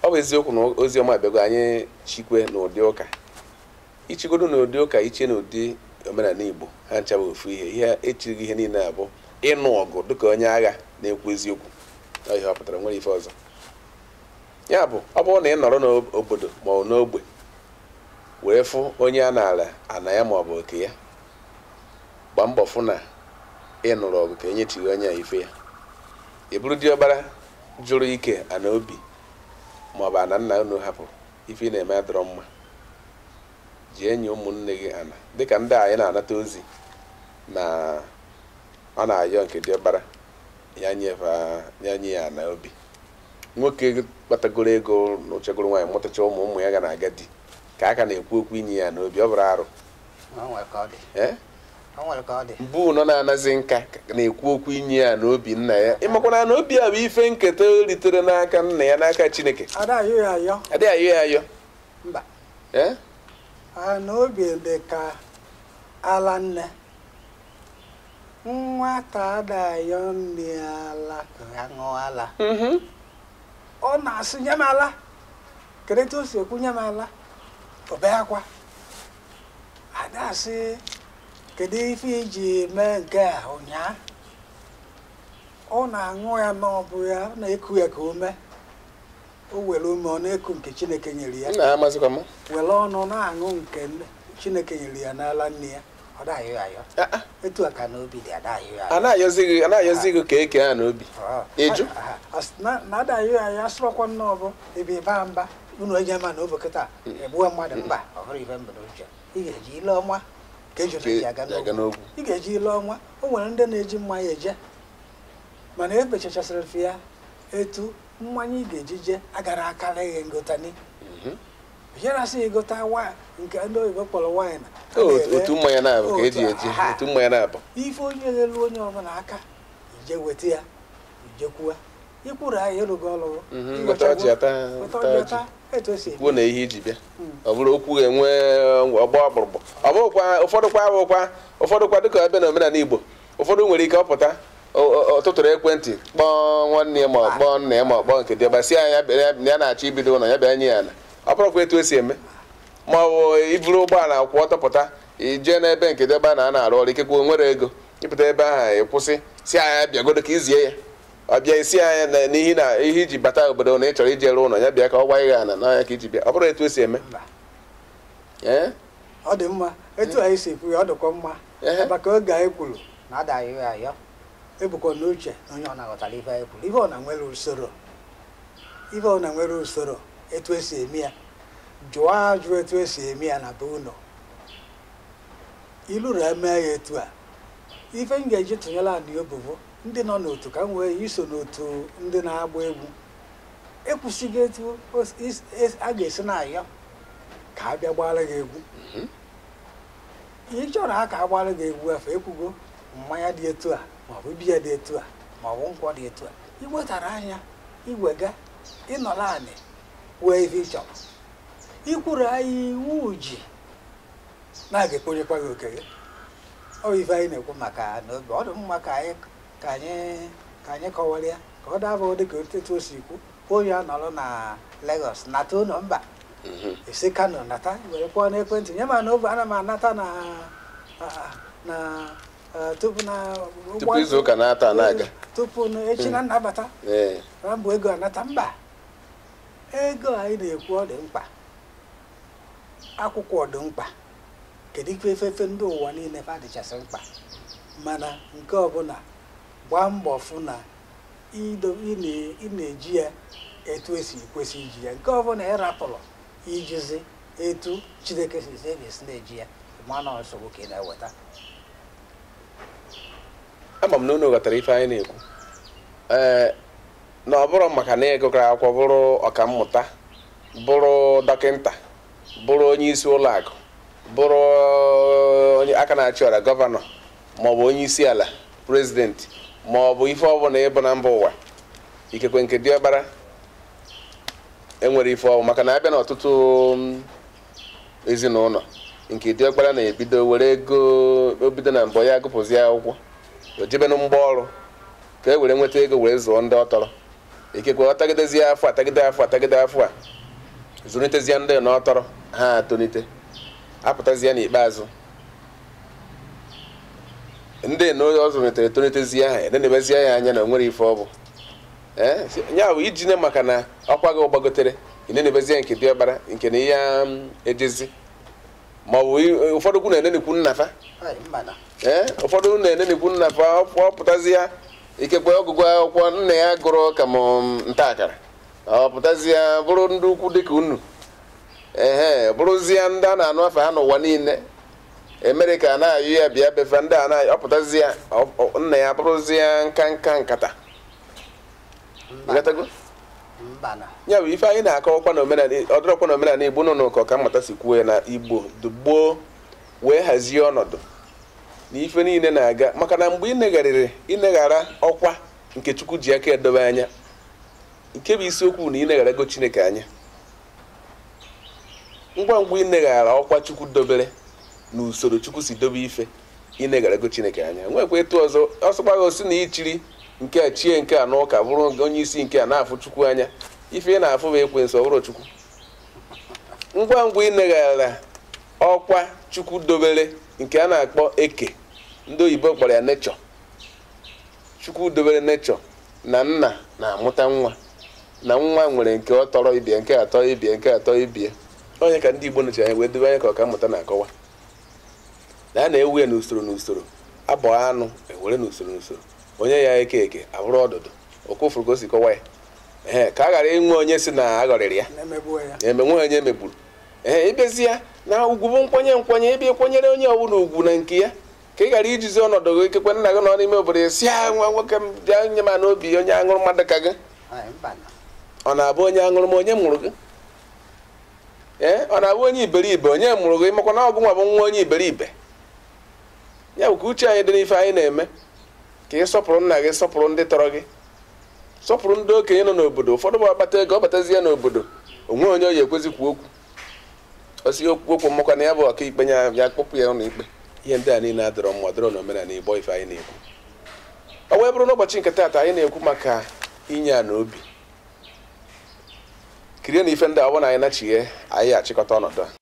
ọ bụ eziokwu na ozi ọma abịago anyị chikwe na ụdị ụka i chegodu na ụdị ụka iche na ndị omenala igbo ha ncha bụ ofu ihe ihe echirighị ihe niile abụ ịnụ ọgụ dịka onye agha na-ekwu eziokwu ihe ọ pụtara nwere ife ọzọ ya bụ ọ bụrụ na ị nọrọ n'obodo ma ọ n'ogbe wee fụ onye a nara ana ya ma ọ bụ oke ya gbaa mbọ fụ na ị nụrụ ọgụ ka e nyechigha onye a ife ya ị bụrụ diọkpara jụrụ ike ana obi ma ọ bụ ana nna unu hapụrụ ife ị na-eme adịrọ mma jee nye ụmụnne gị ana dịka ndị anyị na-anata ozi na ọ na-ayọ nke diọkpara ya nye ya ana obi nwoke kpatagoro ego nụchagoro nwaanyị mụtacha ụmụ ụmụ ya ga na-aga di ka a ka na-ekwu okwu inye ya ana obi ọ bụrọ arụ bụ nọ na-anazi nka na-ekwu okwu inye ya ana obi nna ya ị makwa na ana obi a bụ ife nketa o ritere n'aka nna ya n'aka Chineke adịghị ayọ ya ayọ mba ana obi dị ka ala nne nwata adịghị ayọ nne ala ka ya ṅụọ ala mhm. ọ na-asị nye m ala kedu etu o si ekwu nye m ala ọ bee akwa a da asị kedu ife i ji mee nke a ụnyaa ọ na-aṅụ ya na ọ bụ ya ọ na-eku ya ka ume o were imi ọ na-eku nke chineke nyere ya were ọnụ na-aṅụ nke chineke nyere ya n'ala nne ya a na-ayọzi gị ka e kee ana obi ị jụ unu eje ma na ọ bụ kịta e gbuwe mmadụ mba ọ bụrọ ife m bu n'uche ị ga-eji ile ọma ka ejune ji aga n'ogwu ị ga-eji ile ọma o nwere ndị na-eji mmanya eje mana e bechachasịrị ife a etu mmanya ị ga-eji je agara akara ihe ngotani Jerasị ị gota nke ndị oyibo kpọrọ waịn otu mmanya na-abụ ka eji eji otu mmanya na-abụ ife onye elu onye ọbụla aka i jee weta ya ijekwuwa ikwuru ahịa ịrụgo ọrụ kwuo na ihe i ji bịa hmm. ọ bụrụ okwu enwe ọgba ọkpụrụkpụ ọ bụrụkwa ụfọdụkwa ụfọdụkwa dịka ebe na omenala Igbo ụfọdụ nwere ike ọ pụta ọ tụtụrụ ekwentị kpọọ nwanne ya ma ọ kpọọ nna ya ma ọ kpọọ nke diọkpa sị ya na ya na-achọ ibido ụlọ ya bịa nye ya ala ọ bụrụkwa etu esi eme ma ọ bụ i buru ụgbọala kwụ ọtọ pụta i jee n'ebe nke diọkpa na a na-arụ ọrụ ikekwe nwere ego ị pụta ebe ahụ ị kwụsị sị ya ya bịagodu ka i zie ya ọ bịa ị sị ya na n'ihi na ihe i ji bata obodo na ị chọrọ ije rụ ụlọ ya bịa ka ọ gwa gị ana na ọ ya ka i ji bịa ọ bụrụ etu esi eme ọ dị mma etu anyị si ekwu ya ọ dịkwa mma maka oge anyị kwuru na ada ayọ ayọ ebukwa n'uche na onye ọbụna ghọtara ife anyị kwuru ife ọbụna nwere usoro ife ọbụna nwere usoro etu esi eme ya jụọ ajụ etu esi eme ya na be unu iluru eme ya etu a ife m ga-eji tụnyere anyị obobo ndị nọ n'otu ka m wee iso n'otu ndị na-agba egwu ekwusigo etu a ga-esi na-ayọ ka a bịa gbara gị egwu mhm. ị chọrọ ha ka a gbara gị egwu fa ekwugo mmanya dị etu a maọbụ biya dị etu a maọbụ nkwụ dị etu a i wetara anyị ya iwega ị nọlụ anị wee ife ị chọrọ ikwuru anyị iwu ji na-aga ekponyekwa gị oke gị ọ bụ ife anyị na-ekwu maka na ọ dị mma ka anyị ka anyị ka anyị kọwara ya ka ọ daba dị ka etu o si kwu onye a nọrọ na Lagos nata ụnọ mba mhm. esi Kano nata were kpọọ n'ekwentị nye ma na oge ana m anata na na tupu na tupu izu ụka na-ata na-aga tupu echi na nnabata na ọ bụ ego anata mba ego anyị na-ekwu ọ dị mkpa akwụkwọ dị mkpa kedu ife efefe ndị ụwa niine fa dịchasị mkpa mana nke ọbụna gbaa mbọ fụ na ị na-eji ya etu esi kwesị iji ya nke ọbụna ị rapụrụ ijizi etu Chineke sị a ga-esi na-eji ya ma na nsogbu ka ị na-eweta ama m na unu ghọtara ife anyị na-ekwu ee na ọ bụrụ maka na ị gụkara akwụkwọ bụrụ ọkammụta bụrụ dọkịnta bụrụ onye isi ụlọ akụ bụrụ onye aka na-achị ọra gọvanọ maọbụ onye isi ala prezidenti maọbụ ife ọbụna ị bụ na mba ụwa ikekwe nke diọkpara enwerọ ife ọ bụ maka na a bịa na ọtụtụ mm, ezinụnọ nke diọkpara na-ebido were ego o bido na mbọ ya agụpụzi akwụkwọ o jebe na mgba ọrụ ka e were nweta ego were zụọ ndị ọ tọrọ ikekwe ọ tagidezie afụfụ atagide afụfụ atagide afụfụ a zụnitezie ndị na ọ tọrọ ha atonite apụtazie n'ikpeazụ ndị na ọ zụnitere etonitezie ha enenebezie ya anya na o nwerọ ife ọ bụ ya bụ iji ne maka na ọkwa gị gbagotere enenebezie nke diọkpara nke a anya um, ejezi ma ọ bụ ụfọdụ kwu na-enenekwu nna fa ee ụfọdụ na-enenekwu nna fa ọ pụtazia ikekwe ọgụgụ akwụkwọ nna ya gụrụ ka m um, ntakịrị ọ pụtazia bụrụ ndị ukwu dịka unu ehe bụrụzie ndị a na-anụ afa ha n'ụwa niile amerịka ka na-ayọ ya bịa be fa ndị a na-ayọ ọ pụtazie nna ya bụrụzie nka nka nkata ya bụ ife anyị na-akọwakwa na omenala ọ dịrọkwa na omenala igbo nnọọ ka ọkammụta si kwuo ya na igbo dị gboo wee hazie ọnọdụ na ife niile na-aga maka na mgbe i negharịrị i neghara ọkwa nke chukwu ji aka edobe anya nke bụ isiokwu na i negharago chineke anya ngwa ngwa i neghara ọkwa chukwu dobere na usoro chukwu si dobe ife i negharago chineke anya nwekwa etu ọzọ ọ sọkwa gị sị na i chiri nke a chie nke a n'ụka bụrụ onye isi nke a na-afụ chukwu anya ife ị na-afụ bụ ekwensu ọ bụrọ chukwu ngwa ngwa i neghara ọkwa chukwu dobere nke a na-akpọ eke ndị oyibo kpọrọ ya nature chukwu dobere nature na nna na-amụta nwa na nwa nwere nke ọ tọrọ ibe ya nke a tọ ibe ya nke a tọ ibe ya onye ka ndị Igbo nechi anya wee dobe anya ka ọkammụta na-akọwa na a na-ewe ya n'usoro n'usoro a bọọ anụ e were n'usoro n'usoro onye ya-eke eke abụrụ ọdụdụ ọkwa ị fụrụ ka o si kọwa ya ee ka a ghara inwe onye sị na a ghọrịrị ya ma e nwee onye e megburu ee ị bịazi ya na ugwu bụ nkwanye nkwanye ebe ị kwanyere onye ọbụla ugwu na nke ya ka ị ghara ijizi ọnọdụ gị ikekwe nna gị nọ n'ime obodo ya sị ya nwa nwoke m bịa nye m n'obi onye aṅụrụma dị ka gị ọ na-abụ onye aṅụrụma onye mụrụ gị ee ọ na-abụ onye iberibe onye mụrụ gị makwa na ọ gị nwa bụ nwa onye iberibe ya bụ ka uche anyị dị n'ife anyị na-eme ka ị sọpụrụ nna gị sọpụrụ ndị tọrọ gị sọpụrụ ndị okenye nọ n'obodo ụfọdụ bụ ọ kpata ego ọ batazie n'obodo o nwe onye ọ ya-ekwezi kwuo okwu ọ sị o kwuo okwu maka na ya bụ ọkaikpe ya ya-akpụpụ ya ụlọ ikpe ihe ndị a niile adịrọ mma adịrọ n'omenala igbo ife anyị na-ekwu ọ wee bụrụ n'ụbọchị nke taata anyị na-ekwu maka inye a na obi kirie na ife ndị a ọ bụrụ na anyị nachighaa anyị achịkọta ọnọdụ a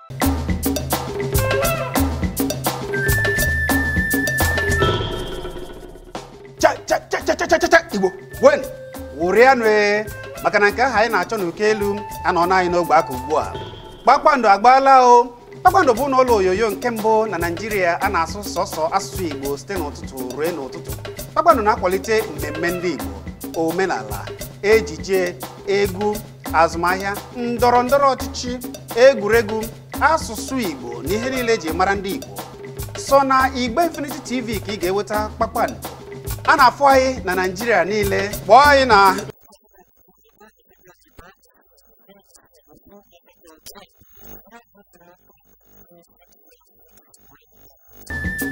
igbo ṅụrịanụ ee maka na nke ahụ anyị na-achọ n'oke elu anọọna anyị n'ogbe aka ugbu a kpakpando agbaala o kpakpando bụnụ ụlọ onyonyo nke mbụ na naịjirịa a na-asụ sọsọ asụsụ igbo site n'ụtụtụ ruo n'ụtụtụ kpakpando na-akwalite mmemme ndị igbo omenala ejije egwu azụmahịa ndọrọ ndọrọ ọchịchị egwuregwu asụsụ igbo na ihe niile e ji mara ndị igbo sọ na igbe infinity tv ka ị ga-enweta kpakpando a na-afụ anyị na naijiria niile kpọọ anyị na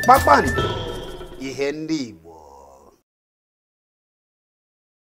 kpakpando ihe ndị igbo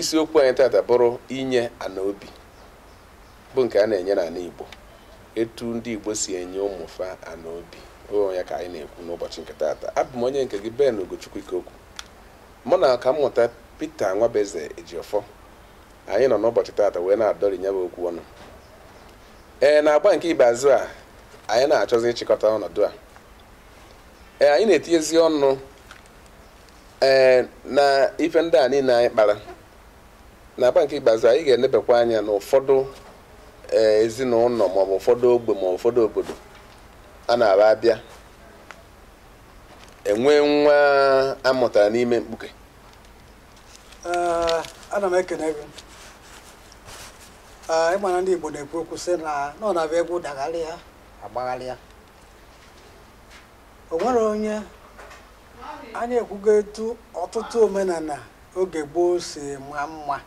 isiokwu anyị tata bụrụ inye ana obi bụ nke a na-enye n'ana Igbo etu ndị Igbo si enye ụmụ fa ana obi ọ bụ ya ka anyị na-ekwu n'ụbọchị nke tata abụ m onye nke gị Ben Ugochukwu Ikeokwu mụ na ọkammụta Pita Nwabeze Ejiọfọ anyị nọ n'ụbọchị tata wee na-adọri nya bụ okwu ọnụ ee n'agba nke ikpeazụ a anyị na-achọzi ịchịkọta ọnọdụ a ee anyị na-etinyezi ọnụ ee na ife ndị a niile anyị kpara n'agba nke ikpeazụ anyị ga-enebekwa anya na ụfọdụ ee ezinụlọ maọbụ ụfọdụ ogbe maọbụ ụfọdụ obodo a na-aba abịa enwe nwa a mụtara n'ime mkpuke Ee, ana m ekene gị Ee, ị ma na ndị Igbo na-ekwu okwu sị na na ọ na-abịa egwu dagharịa a gbagharịa o nwere onye anyị ekwugo etu ọtụtụ omenana oge gboo si ma mma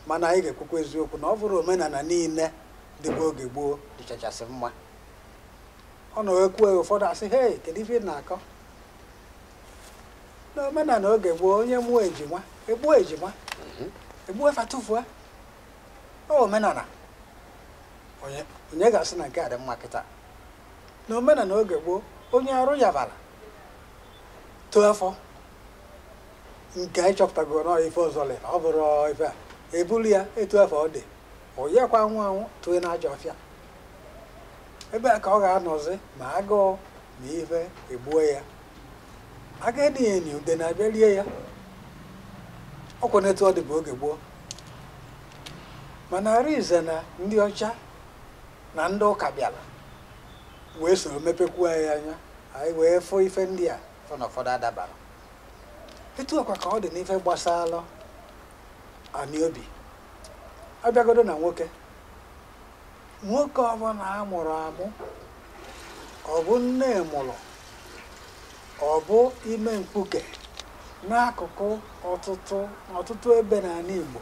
mana anyị ga-ekwukwa eziokwu na ọ bụrọ omenana niile dịbu oge gboo dịchachasị mma ọ na e kwue ụfọdụ a sị he kedu ife ị na-akọ na omenana oge gboo onye mụọ ejima e gbuo ejima mhm. e gbuo fa tụfuo ọ omenana onye ga-asị na nke a dị mma kịta na omenana oge gboo onye arụ yabara too afọ nke anyị chọpụtago na ife ọzọ lere ọ bụrụ ife a e buru ya etu afụ ọ dị onye kwa anwụ anwụ tụọ na ajọ ọfịa ebe a ka ọ ga-anọzi ma agụụ ma ife egbuo ya a gadị eni udene abịa rie ya ọ kwanụ etu ọ dịbu oge gboo mana arinze na ndị ọcha na ndị ụka bịara wee soro mepekwuo anyị anya anyị wee fụ ife ndị a fụ na ụfọdụ adabarọ etu a kwa ka ọ dị n'ife gbasara anị obi a bịagodo na nwoke nwoke ọbụla a mụrụ amụ ọ bụ nne mụrụ ọ bụ ime mkpuke n'akụkụ ọtụtụ ọtụtụ ebe n'anị Igbo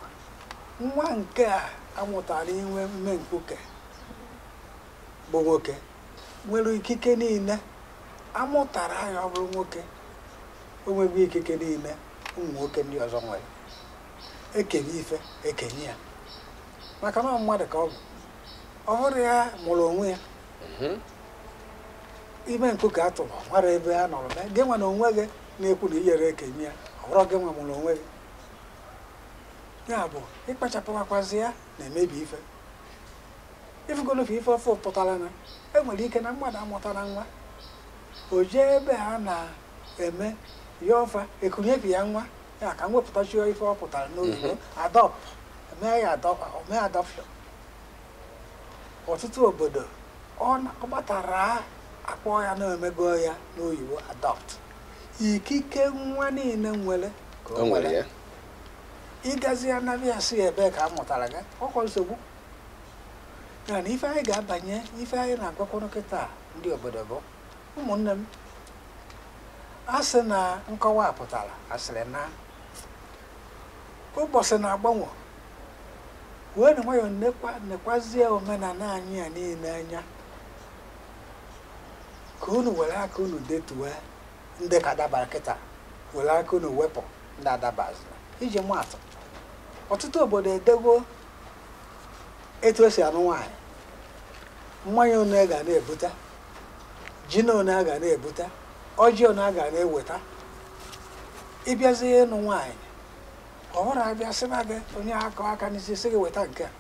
nwa nke a amụtara inwe ime mkpuke bụ nwoke nwere ikike niile amụtara ya ọ bụrụ nwoke o nweghị ikike niile ụmụ nwoke ndị ọzọ nwere ekenye ife ekenye ya maka na mmadụ ka ọ bụ ọ bụrọ ya mụrụ onwe ya mhm. ime mkpuke a tụrụ mara ebe a nọrọ gị nwa na onwe gị na-ekwu na iyere ekenye ya ọ bụrọ gị nwa mụrụ onwe gị ya bụ ịkpachapụwakwazi ya na-emebi ife ifugolofe ife ọfụ pụtara na enwere ike na mmadụ amụtarọ nwa o jee ebe a na-eme ya ọfa ekunyebi ya nwa ya ka m wepụtachi ife ọ pụtara n'oyibo adopt mee ya mee adoption ọtụtụ obodo ọ gbatara akpọ ya na-emego ya n'oyibo adopt ikike nwa niile nwere ka o nwere ya. ịgazi ya na ya sị ebe ka a mụtara gị ọkwa nsogbu ya na ife anyị ga-abanye ife anyị na-agwakwanụ kịta ndị obodo bụ ụmụnne m a sị na nkọwa pụtara a sịrị na ụbọchị na-agbanwe weenụ nwayọọ nekwazie omenala anyị a niile anya ka unu were aka unu detuwe ndị ka dabara kịta were aka unu wepụ ndị adabazirọ iji maatụ ọtụtụ obodo edego etu esi anụ nwaanyị mmanya one a ga na-ebute ji na one a ga na-ebute ọjị one a ga na-eweta ịbịazi ịnụ nwaanyị ọ bụrọ abịa sị na gị onye akọ aka n'isi sị gị weta nke a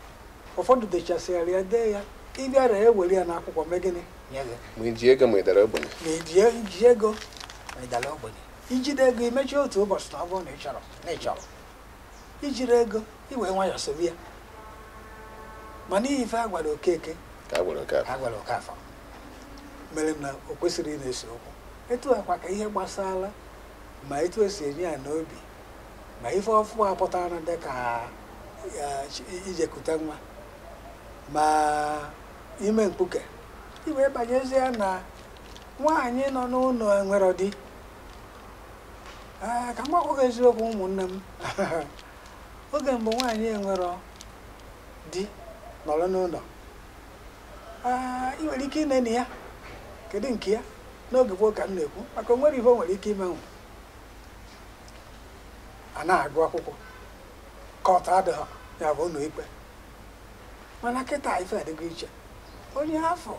ụfọdụ dechasịara ya dee ya ịbịara ewere ya n'akwụkwọ mee gịnị nye gị ma iji ego ma ịdara ogbenye ma iji ego ma ịdara ogbenye ijide ego imechie otu ụbọchị na ọ bụrụ na ị chọrọ ijirọ ego iwee nwayọọ sobe ya ma n'ihi ife a gwara Okeke ka a gwara Okafọ mere na o kwesirọ ị na-ese okwu etu a kwa ka ihe gbasara ma etu esi enye ya n'obi ma ife ọfụ a pụtara dị ka ya, chi- ijekute nwa ma ime mkpuke iwee banyezie na nwaanyị nọ n'ụlọ enwere di ee ka m gwakwa gị eziokwu ụmụnne m oge mbụ nwaanyị enwero di nọrọ n'ụlọ ee ị nwere ike ineni ya kedu nke ya n'oge gboo ka m na-ekwu maka o nwero ihe o nwere ike imenwu anaghị agụ akwụkwọ court adịghị ya bụ ụlọ ikpe mana kịta ife adịgo iche onye afọ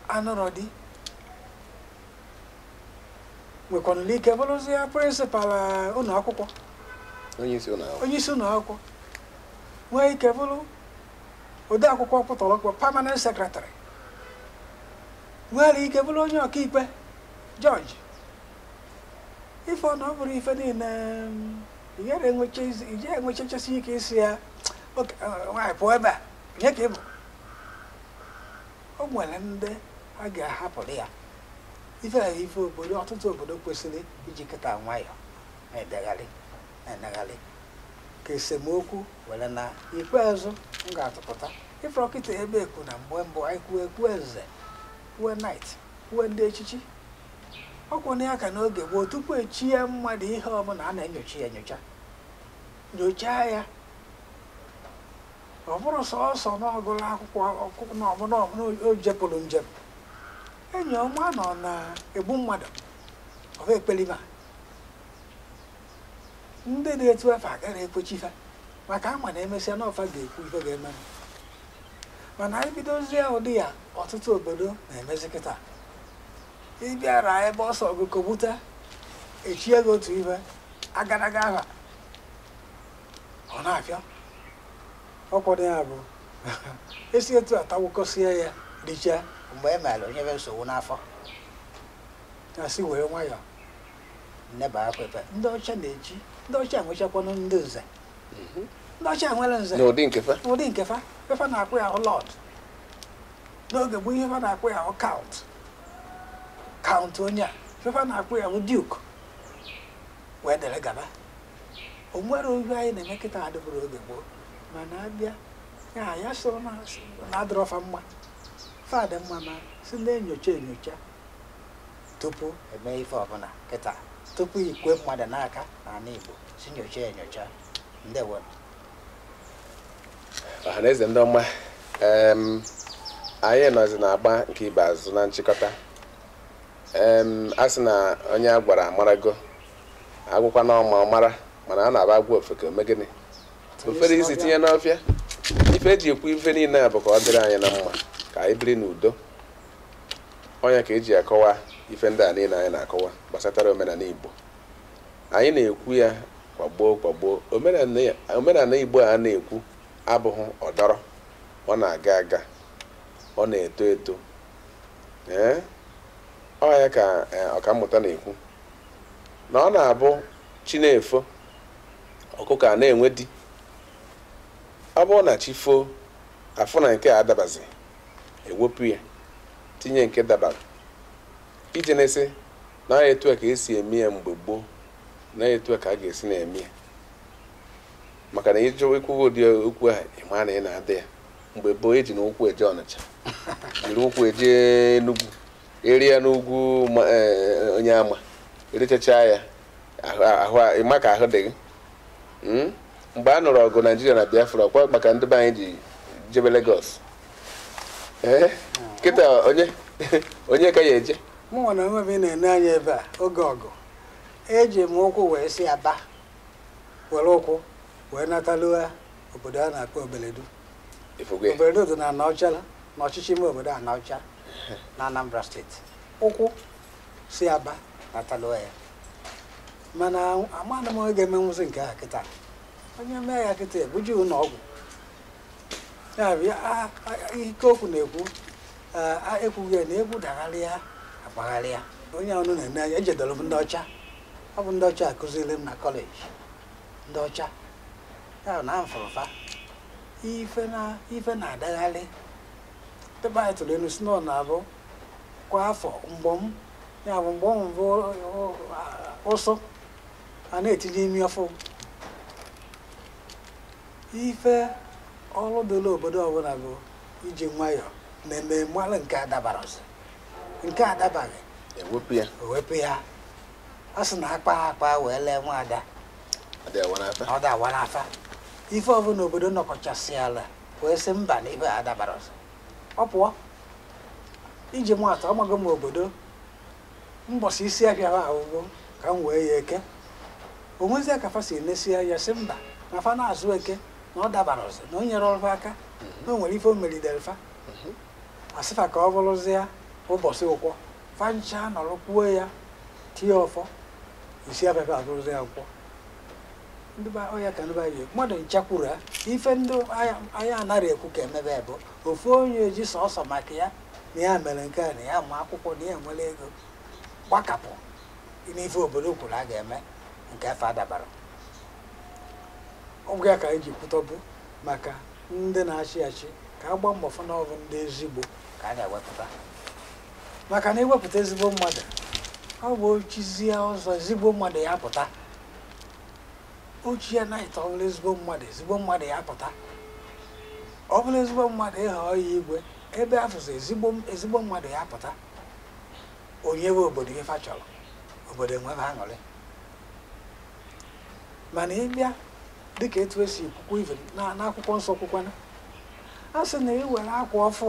anụrụ di nwekwanụla ike bụrụzie principal eh, ụlọ akwụkwọ onye isi ụlọ akwụkwọ onye isi ụlọ akwụkwọ nwee ike bụrụ ode akwụkwọ ọkpụtọrọkpọ permanent secretary nwere ike bụrụ onye ọkaikpe judge ife ọ na ọ bụrụ ife niile mm, ị gaghị enwecha izi- ị gaghị enwechachasị ike ịsị ya "Ok, eh, nwaanyị pụọ ebe a onye ka ị bụ o nwere ndị a ga-ahapụrụ ya ife na ife obodo ọtụtụ obodo kwesịrị iji kịta nwayọọ na-edegharị na-edegharị ka esemokwu were naa ikpeazụ m ga-atụpụta ị fụrụ kịta ebe ekwu na mgbe mbụ anyị kwuo ekwu eze kwuo knight kwuo ndị echichi ọ kwụ na ya ka n'oge gboo tupu e chie mmadụ ihe ọbụla a na-enyocha ya enyocha nyochaa ya ọ bụrọ sọsọ na ọ gụrụ akwụkwọ ọkụkụ na ọbụla ọbụla o jepụrụ njem onye a ma na ọ na-egbu mmadụ ọ bụ ekpelima ndị dị etu afụ agaghị ekwe chie fa maka a ma na e mesịa na ọ fa ga-ekwu ife ga-eme mana anyị bidozie ụdị ya ọtụtụ obodo na-emezi kịta ị bịara ebe ọ sọ gị kọgbute e chie gị otu ife agadaga aha ọ na-abịa ọkwado ya bụ esi etu atawụkọsịa ya richaa mgbe e mere o nyebe nsogbu n'afọ ya si were nwayọọ na-ebe akwa ebe ndị ọcha na-eji ndị ọcha enwechakwanụ ndị nze mhm. ndị ọcha nwere nze n'ụdị nke fa n'ụdị nke fa ife fa na-akpọ ya ahụ lord n'oge gboo ihe fa na-akpọ ya ahụ count count onye a ife fa na-akpọ ya ahụ duke wee dere gaba o nwerọ ihe anyị na-eme kịta adịburọ oge gboo mana abịa ya ya sịrị na na adịrọ fa mma fa dị mma na si na-enyocha enyocha tupu e mee ife ọbụla kịta tupu ikwe mmadụ n'aka n'ala Igbo si nyocha enyocha ndewo ọha na eze ndị ọma em, anyị nọzi na-agba nke ikpeazụ na nchịkọta em, a sị na onye a gwara amarago a gwakwa na ọma mara mana a na-aba agwa ofeke o mee gịnị o fere isi tinye n'ọfịa ife e ji ekwu ife niile a bụ ka ọ dịrị anyị na mma ka anyị biri n'udo ọ ya ka e ji akọwa ife ndị a niile anyị na-akọwa gbasatara omenala igbo anyị na-ekwu ya kwa mgbe kwa mgbe omenala igbo a na-ekwu abụghị ọdọrọ ọ na-aga aga ọ na-eto eto ee ọ ya ka eh, ọkammụta na-ekwu na ọ na-abụ chi na-efo ọkụkọ a na-enwe di ọ bụrụ na chi foo afụ na nke a dabazi ewepụ ya tinye nke dabara ije na-asị na ọ etu a ka esi eme ya mgbe gboo na etu a ka a ga-esi na-eme ya maka na ịjụ ikwu ụdị okwu ahụ ịma na ị na-adị ya mgbe gboo ejinụ ụkwụ eje ọnịcha jiri ụkwụ eje enugwu ịrịa n'ugwu e, e, onyeama ịrịchachaa ya ịma ka ahụ dị gị hmm? mgbe a nụrụ ọgụ naijiria na biafra ụkwụ kwa ka ndị be anyị ji jebe legos eh? kịta onye onye ka ya eje mụ nwa onwe m na-ene anya ebe a oge ọgụ eji m ụkwụ wee si aba were ụkwụ wee nataluo obodo a na-akpọ obeledu obeledu dị na anaọcha na ọchịchị ime obodo anaọcha na Anambra steeti ụkwụ si aba nataluo ya mana amanụ m onye ga-emenwuzi nke a kịta onye mee ya kịta ebuje ụlọ ọgwụ ya bụ ike okwu na-ekwu ekwughị ya na egwu dagharịa agbagharịa onye unu na-ene anya ejedoro m ndị ọcha ọ bụ ndị ọcha kụziri m na kọleji ndị ọcha anya m fụrụ fa ife na-adagharị ndị be anyị tụrụ inu sị na ọ na-abụ kwa afọ mgbọm ya bụ mgbọm bụ ụsụ a na-etinye imi ọfụ ife ọrụ dịrị obodo ọbụla bụ iji nwayọọ nenee malụ nke adabarọzi nke adabaghị ewepụ ya a sị na akpa akpa wee lee nwaada ọ dị awa n'afa ife ọbụla obodo nọkọchasịala wee sị mba na ife a adabarọzi ọ pụọ iji maa atụ amago m obodo mbọsị isi ahịa fa bụbu ka m wee ya eke o nwezie ka fa si nesịa ya sị mba na fa na-azụ eke na ọ dabarọzi na o nyerọ fa aka na o nwere ife o melidere fa a sị fa ka ọ bụrụzie ụbọchị nkwọ fa ncha nọrọ kwuo ya tie ọfọ isi afịa fa abụrụzịa nkwọ ndị be ọ ya ka ndị be anyị mmadụ ncha kwuru ha ife ndị anya- anyị anaghị ekwu ka emebe bụ ofu onye ji sọsọ maka ya na ya mere nke a na ya ma akwụkwọ na ya nwere ego gbakapụ n'ife obodo kwuru a ga-eme nke afụ adabarọ ọ bụ ya ka anyị ji kwutebu maka ndị na-achị achị ka a gbaa mbọ fụ na ọ bụ ndị ezigbo ka a ga-ewepụta maka na iwepụta ezigbo mmadụ ọ bụ o chizie ọzọ ezigbo mmadụ ya pụta o chie na ịta ọbụla ezigbo mmadụ ezigbo mmadụ ya pụta ọ bụla ezigbo mmadụ ịhọ ya igwe ebe afụzi ezigbo mmadụ ya pụta o nyebe obodo ife fa chọrọ obodo enwebe aṅụrị mana ịbịa dịka etu esi kwukwa ive n'akwụkwọ nsọ kwukwana a sị na ị were akwa ọfụ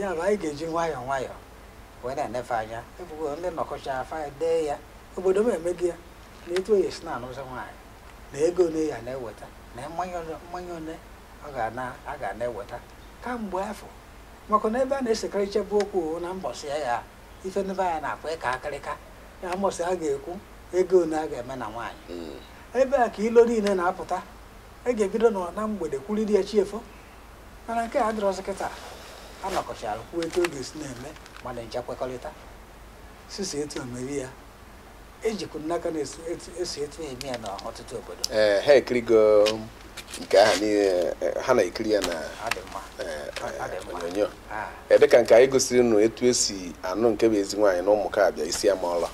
ya bụ anyị ga-eji nwayọọ nwayọọ wee na-enefe anya ebugo ndị nọkọchaa fa dee ya obodo m emeghị ya na etu a ya-esi na-anụzi nwaanyị na ego ole a ya na-eweta na mmanya ole a ga na-eweta kamgbe afọ maka na ebe a na-esekarịcha bụ okwu na mbọsị ya ya ife ndị be anyị na-akpọ ịka akịrịka ya mbọsị a ga-ekwu ego ole a ga-eme na nwaanyị hmm. ebe a ka ilo niile na-apụta a ga-ebido na mgbede kwuriri ya chi efo mana nke a dịrọzi kịta a nọkọchara kwuo etu a ga-esi na-eme mmadụ ncha kwekọrịta sisi etu omeri ya ejikwu m n'aka na esi etu a eme ya na ọtụtụ obodo ee ha ekirigo nke ahụ niile ha na-ekiri ya na onyonyo dịka nke anyị gosiri unu etu esi anụ nke bụ ezi nwaanyị na Ụmụkabịa Isiama ọla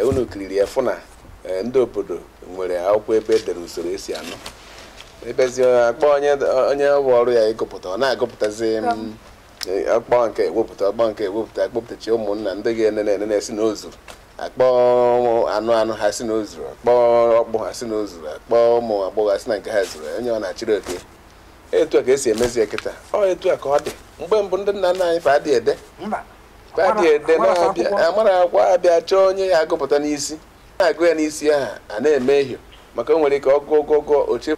unu kiriri ya fụ na Ee, ndị obodo nwere akwụkwọ ebe e dere usoro esi anụ ebezi akpọ onye ọ bụ ọrụ ya ịgụpụta ọ na-agụpụtazi m, e, akpọ nke ewepụta akpọ nke ewepụta akpọpụtacha ụmụnna ndị ga-enene enene si na o zuru akpọ anụ anụ ha si na o zuru akpọ ọkpụ ha si na o zuru akpọ ụmụ agbọghọ ha si na nke ha zuru onye ọ na-achịrị oke etu a ka esi emezi ya kịta ọ etu a ka ọ dị mgbe mbụ ndị nna nna anyị fa adịghị ede mba amara akwa abịa chọọ onye ya agụpụta n'isi na-agụ ya n'isi ahụ a na-eme ehio maka o nwere ike ọgụ ọgụgụ oche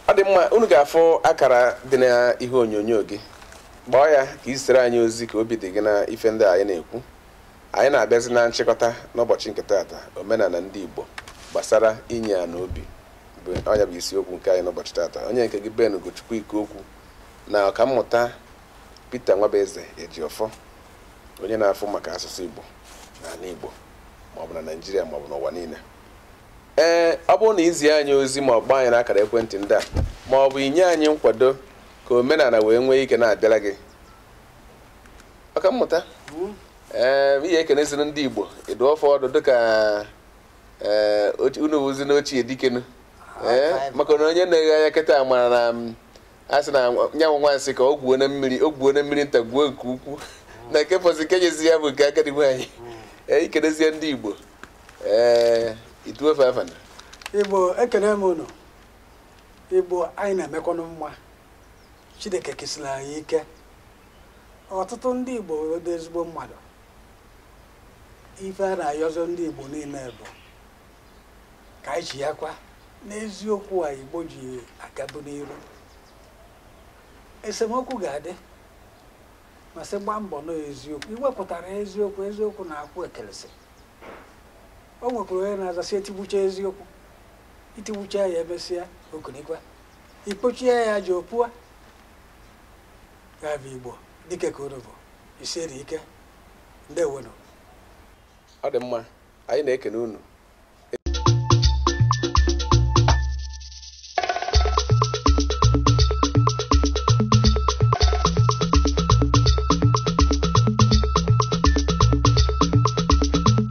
ọ dị mma unu ga-afụ akara dị n'ihe onyonyo gị kpọọ ya ka ị zitere anyị ozi ka obi dị gị na ife ndị anyị na-ekwu anyị na-abịazi na nchịkọta n'ụbọchị nke taata omenala ndị Igbo gbasara inye ya n'obi ọ nya bụ isiokwu nke anyị n'ụbọchị taata onye nke gị Ben Ugochukwu Ikeokwu na ọkammụta Peter Nwabueze Ejiofor onye na-afụ maka asụsụ Igbo n'ala Igbo maọbụ na Naịjirịa maọbụ n'ụwa niile ee ọ bụrụ na izi anyị ozi ma ọ kpọọ anyị n'akara ekwentị ndị a ma ọ bụ inye anyị nkwado ka omenala wee nwee ike na-abịara gị ọkammụta ee ị ya-ekeneziri ndị Igbo ị dụọ fa ọdụ dịka ee unu wụzi n'ochie dike nu ee maka na onye na-ege anyị kịta mara na a sị na nyanwụ nwansị ka o gwuo na mmiri nta gwuo nke ukwu na nke fọzi nke nyezi ya bụ nke agadi nwaanyị ee i kenezie ndị igbo ee i tuwe fa afa na igbo ekene m unu igbo anyị na-emekwanụ mma chineke kesiri anyị ike ọtụtụ ndị igbo dị ezigbo mmadụ ife a na-ayọzị ndị igbo niile bụ ka anyị chighakwa n'eziokwu a igbo ji agabu n'iru esemokwu ga-adị ma sị gbaa mbọ nọ eziokwu i wepụtara eziokwu eziokwu na-akwụ ekelesi o nwekwara onye na-aza sị etigbucha eziokwu i tigbucha ya emesịa o kunikwa i kpochie ya aja o pua ya bụ igbo dike ka unu bụ i siri ike ndewonu ọ dị mma anyị na-ekene unu